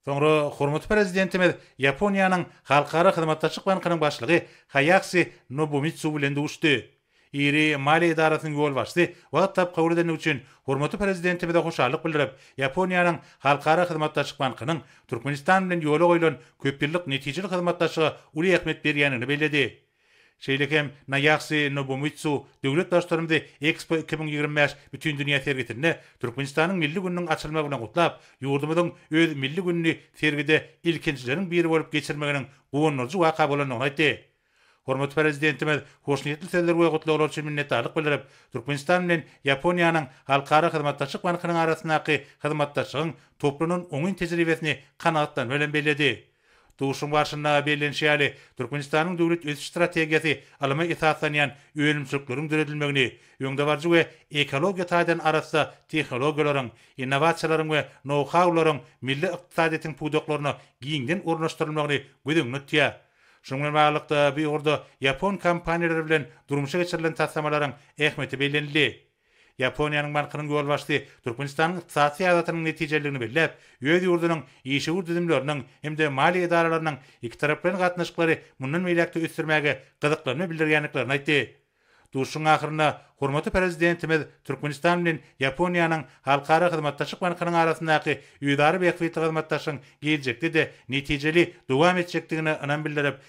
Soňra hormatly Prezidentimiz Ýaponiýanyň Halkara hyzmatdaşlyk bankynyň başlygy Haýaksi Nobumitsu bilen duşdy. Iri maliýe edarasynyň ýolbaşçysy wagt tapyp kabul edendigi üçin hormatly Prezidentimize hoşallyk bildirip, Ýaponiýanyň Halkara hyzmatdaşlyk bankynyň Türkmenistan bilen ýola goýlan köpýyllyk netijeli hyzmatdaşlyga uly ähmiýet berýändigini belledi. Şeýle hem Naýaksi Nobumitsu döwlet Baştutanymyzy Expo iki müň ýigrimi bäş Bütindünýä sergisinde Türkmenistanyň milli gününiň açylmagy bilen gutlap, ýurdumyzyň öz milli gününi sergide ilkinjileriň biri bolup geçirmeginiň guwandyryjy waka bolandygyny aýtdy. Hormatly Prezidentimiz hoşniýetli sözler we gutlaglar üçin minnetdarlyk bildirip, Türkmenistan bilen Ýaponiýanyň Halkara hyzmatdaşlyk bankynyň arasyndaky hyzmatdaşlygyň toplanan oňyn tejribesini kanagatlanma bilen belledi. Duşuşygyň barşynda bellenişi ýaly, Türkmenistanyň döwlet ösüş strategiýasy ylyma esaslanýan önümçilikleriň döredilmegini, öňdebaryjy we ekologiýa taýdan arassa tehnologiýalaryň, innowasiýalaryň we nou-haularyň milli ykdysadyýetiň pudaklaryna giňden ornaşdyrylmagyny göz öňünde tutýar. Şunuň bilen baglylykda, bu ugurda ýapon kompaniýalary bilen durmuşa geçirilen taslamalaryň ähmiýeti bellenildi. Ýaponiýanyň bankynyň ýolbaşçysy Türkmenistanyň ykdysady syýasatynyň netijeliligini belläp, öz ýurdunyň işewür düzümleriniň hem-de maliýe edaralarynyň ikitaraplaýyn gatnaşyklary mundan beýläk-de ösdürmäge gyzyklanma bildirýändiklerini aýtdy. Duşuşygyň ahyrynda hormatly Prezidentimiz Türkmenistan bilen Ýaponiýanyň Halkara hyzmatdaşlyk bankynyň arasyndaky özara bähbitli hyzmatdaşlygyň geljekde-de netijeli dowam etjekdigine ynam bildirip,